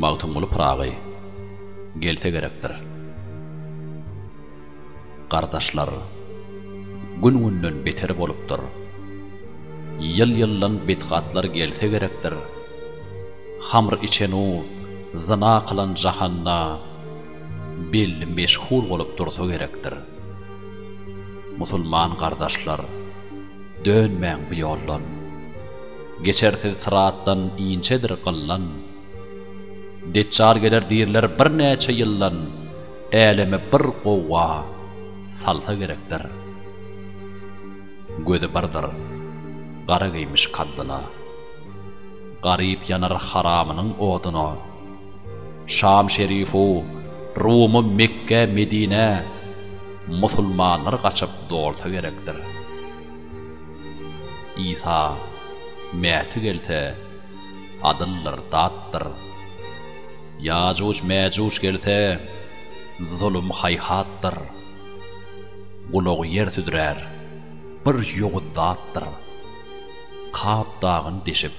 Magtymguly Pyragy gelse gerekdir. Gardaşlar, gün-günden beter bolupdyr. Ýyl-ýyldan betgatlar gelse gerekdir. Hamr içen-u, zyna kylan jahanda belli meşhur bolup dursa gerekdir. Musulman gardaşlar, dönmäň bu ýoldan. Geçersiz syratdan inçedir gyllan. Deçjal geler diýrler birnäçe ýyldan, äleme bir gowga salsa gerekdir. Gözi birdir, gara geýmiş kaddyla. Garyp ýanar haramynyň oduna. Şam şerifu, Rumy Mekge, Medinä, musulmanlar gaçyp dolsa gerekdir. Isa, Mäti gelse, adyldyr, datdyr. Ýajuj, Mäjuj gelse, zulum, haýhatdyr. Gulagy ýer südrär, bir ýowuz zatdyr. Kap dagyny deşip,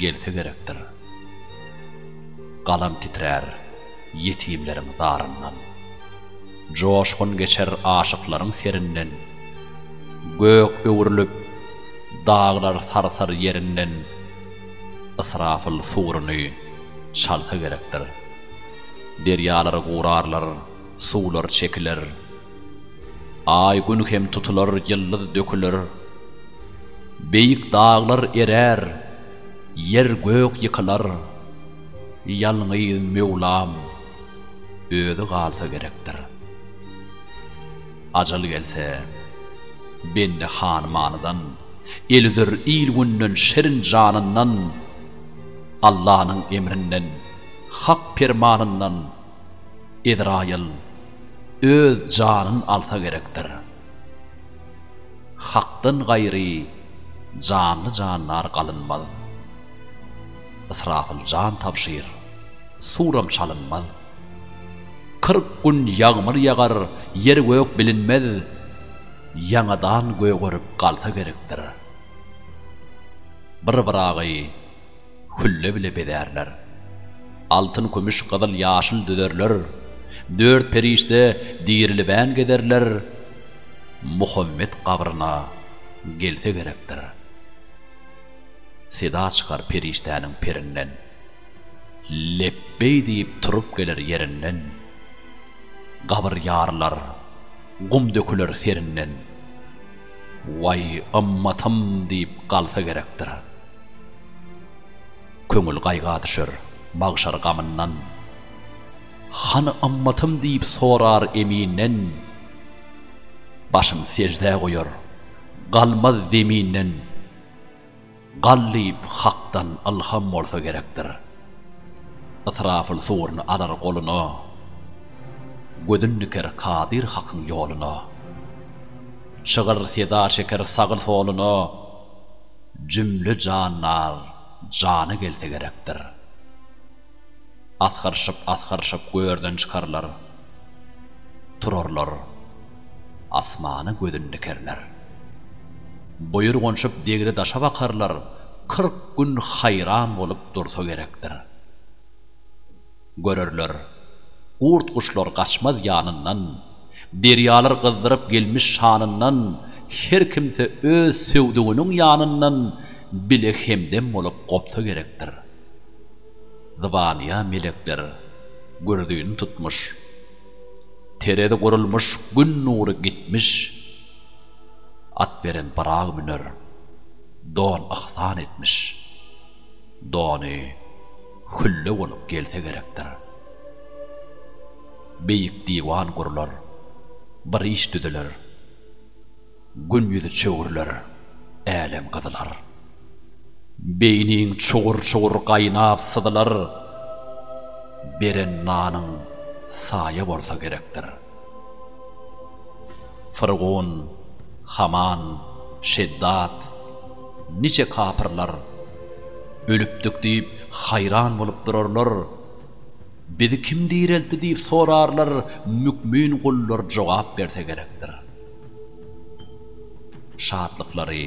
gelse gerekdir. Galam titrär ýetimleriň zaryndan. Joşgun geçer aşyklaryň serinden. Gök öwrülip, daglar sarsar ýerinden. Ysrafyl suruny çalsa gerekdir. Derýalary gurarlar. Suwlar çekiler. Aý, Gün hem tutular, ýyldyz döküler. Beýik daglar erär, ýer-gök ýykylar. Ýalňyz Möwlam Özi galsa gerekdir. Ajal gelse, bende hanymanydan, el üzer il-günden, şirin janyndan, Allanyň emrinden, hak permanyndan, Ezraýyl öz janyn alsa gerekdir. Hakdan gaýry janly jandar galynmaz. Ysrafyl jan tabşyr, suram çalynmaz. Kyrk gün ýagmyr ýagar, ýer-gök bilinmez. Ýaňadan gögerip galsa gerekdir. Bir Ybragy Hülle bile bezärler. Altyn, kümüş, gyzyl, ýaşyl düzerler. Dört perişde dirilibän gezerler. Muhammet gabryna gelse gerekdir. Seda çykar perişdäniň perinden. Lepbeý diýip turup geler ýerinden. Gabyr ýarylar, gum döküler serinden. Waý, ymmatym diýip galsa gerekdir. Köňül gaýga düşer, magşar gamyndan. Hany ymmatym diýip sorar Eminden. Başyn seždä goýar, galmaz zeminden. Gallyp Hakdan ylham bolsa gerekdir. Ysrafyl sugryny alar goluna, Gözün diker Kadyr Hakyň ýoluna. Çygyr seda çeker sagy-soluna, Jümle jandar jana gelse gerekdir. Asgyryşyp-asgyryşyp görden çykarlar. Turarlar, asmana gözün dikerler. Buýurganşyp degri daşa bakarlar, kyrk gün haýran bolup dursa gerekdir. Görerler, gurt-guşlar gaçmaz ýanyndan, derýalar gyzdyryp gelmiş şanyndan, her kimse öz söwdüginiň ýanyndan bile hemdem bolup gopsa gerekdir. Zybanýa melekler gürzüni tutmuş, Terezi gurulmuş Gün nury gitmiş. At beren Pyragy müner, Don yhsan etmiş. Dony hülle bolup gelse gerekdir. Beýik diwan gurlar, bir iş düzüler. Gün ýüzi çöwrüler, älem gyzylar. Beýniň çugur-çugur gaýnap syzylar. Beren nanyň saýa bolsa gerekdir. Fyrgun, Haman, Şeddad, niçe kapyrlar Ölüpdik diýip, haýran bolup durarlar. Bizi kim direltdi diýip sorarlar, Mükmin gullar jogap berse gerekdir. Şatlyklary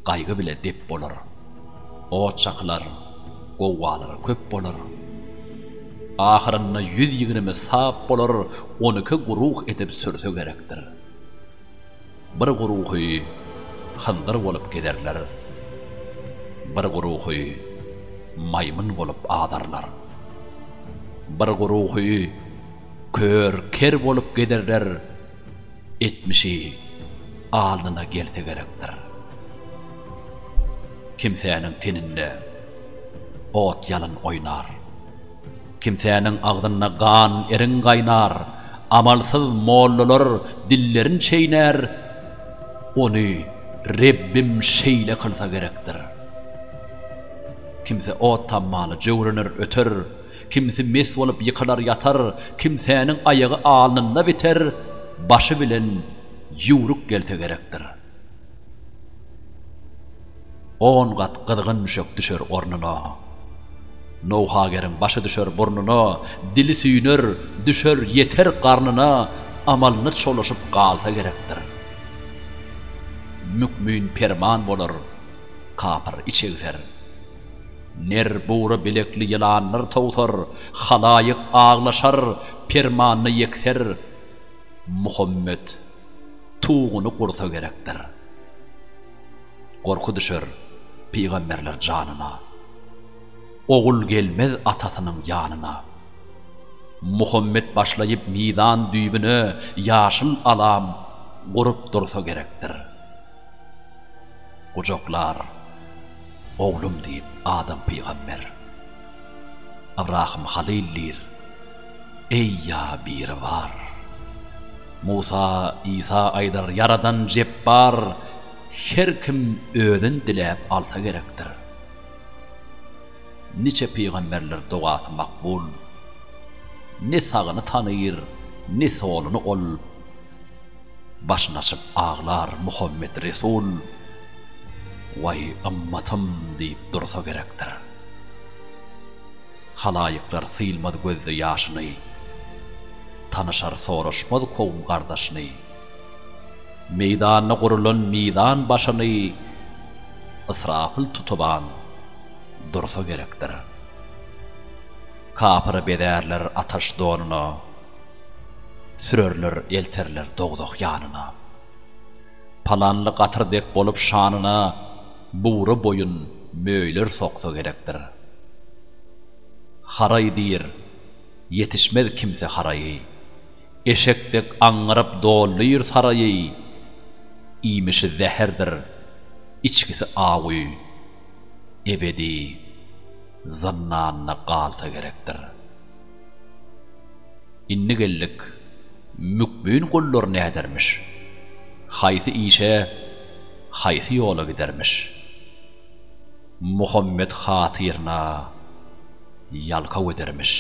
gaýgy bile dep bolar, Ot çakylar, gowgalary köp bolar. Ahyrynda ýüz ýigrimi sap bolar, On iki guruh edip sürse gerekdir. Bir guruhy hyndyr bolup gezerler, Bir guruhy maýmyn bolup azarlar. Bir guruhy kör, ker bolup gezerler, Etmişi alnyna gelse gerekdir. Kimsäniň teninde ot ýalyn oýnar. Kimsäniň agzynda gan eriň gaýnar. Amalsyz mollalar dillerin çeýnär, Ony Rebbim şeýle kylsa gerekdir. Kimse ot tammaly jöwrener öter. Kimsi mes bolup ýykylar ýatar, kimsäniň aýagy alnynda biter, başy bilen ýüwrük gelse gerekdir. On gat gyzgyn müşek düşer ornuna. Nowhageriň başy düşer burnuna, dili süýner, düşer, ýeter garnyna, amalyny çolaşyp galsa gerekdir. Mükmin perman bolar, kapyr içegser. Ner bugra bilekli ýylanlar towsar, halaýyk aglaşar, permanda ýekser. Muhammet tuguny gursa gerekdir. Gorky düşer pygamberler janyna. Ogul gelmez atasynyň ýanyna. Muhammet başlaýyp mizan düýbüne ýaşyl alam gurup dursa gerekdir. Gujaklar. Oglum diýip Adam pygamber. Ybrahym halyl diýr, Eý ýa Biribar. Musa, Isa aýdar, Ýaradan Jepbar. Her kim özün diläp alsa gerekdir. Niçe pygamberler dogasy makbul. Ne sagyny tanyr, ne soluny ol. Başyny açyp aglar Muhammet Resul, Waý, ymmatym diýip dursa gerekdir. Halaýyklar sylmaz gözde ýaşyny, Tanyşar soraşmaz kowum-gardaşyny. Meýdanda gurulan mizan başyny Ysrapyl tutuban dursa gerekdir. Kapyry bezärler ataş donuna, Sürerler, elterler dowzah ýanyna. Palanly gatyr dek bolup şanyna, Bury boýun möýler soksa gerekdir. Haraý diýr, ýetişmez kimse haraýy, Eşek dek aňňyryp dolýur saraýy. Iýmişi zäherdir, içgisi awuý, ebedi. zyndanda galsa gerekdir. Indi geldik, mükbin gullar nädermiş? Haýsy işe, haýsy ýola gidermiş? Muhammet hatyryna ýalkaw edermiş.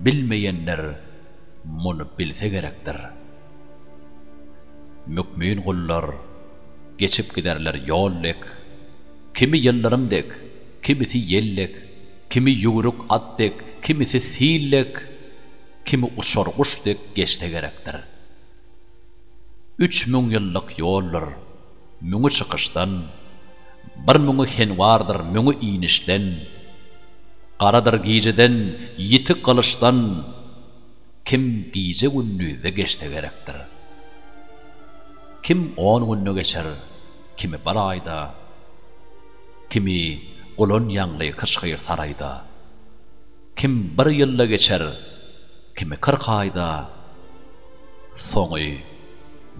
Bilmeýänler muny bilse gerekdir. Mükmin gullar geçip giderler ýol dek. Kimi ýyldyrym dek, kimisi ýel dek, kimi ýüwrük at dek, kimisi sil dek, kimi uçar guş dek geçse gerekdir. Üç müň ýyllyk ýoldur, müňi çykyşdan, bir müňi henwardyr, müňi inişden, garadyr gijeden, ýiti gylyçdan, kim gije-gündizde geçse gerekdir. Kim on günde geçer, Kimi bir aýda, kimi gulan ýaňly kyşgyr saraýda. Kim bir ýylda geçer, kimi kyrk aýda, soňy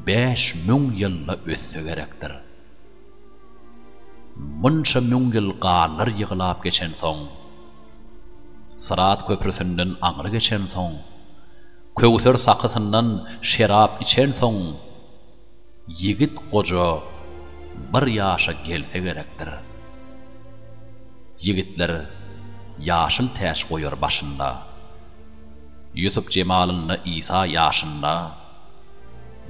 bäş müň ýylda ötse gerekdir. Munça müň ýyl ganlar ýyglap geçensoň, Syrat köprüsinden aňry geçensoň, Köwser sakysyndan şerap içensoň, Ýigit goja bir ýaşa gelse gerekdir. Ýigitler ýaşyl täç goýar başynda. Ýusup jemalynda Isa ýaşynda.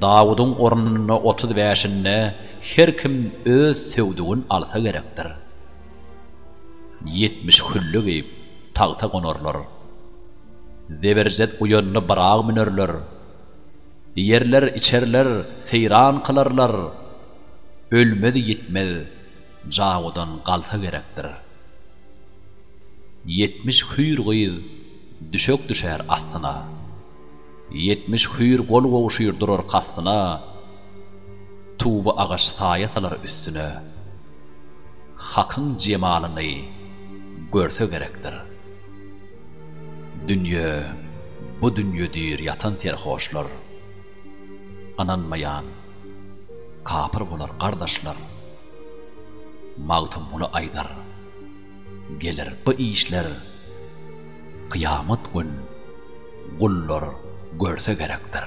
Dawudyň ornunda otuz bäşinde her kim öz söwdügin alsa gerekdir. Ýetmiş hülle geýip tagta gonarlar. Zeberjet uýanda Byragy münerler. Ýerler, içerler, seýran kylarlar. Ölmez-ýitmez jawudan galsa gerekdir. Ýetmiş hüýr gyz düşek düşer astyna. Ýetmiş hüýr gol gowşyr durar kastyna. Tuwy agaç saýa salar üstüne. Hakyň jemalyny görse gerekdir. Dünýe, bu dünýe diýr ýatan serhoşlar, Ynanmaýan, kapyr bolar gardaşlar. Magtymguly aýdar, Geler bu işler kyýamat gün, Gullar görse gerekdir.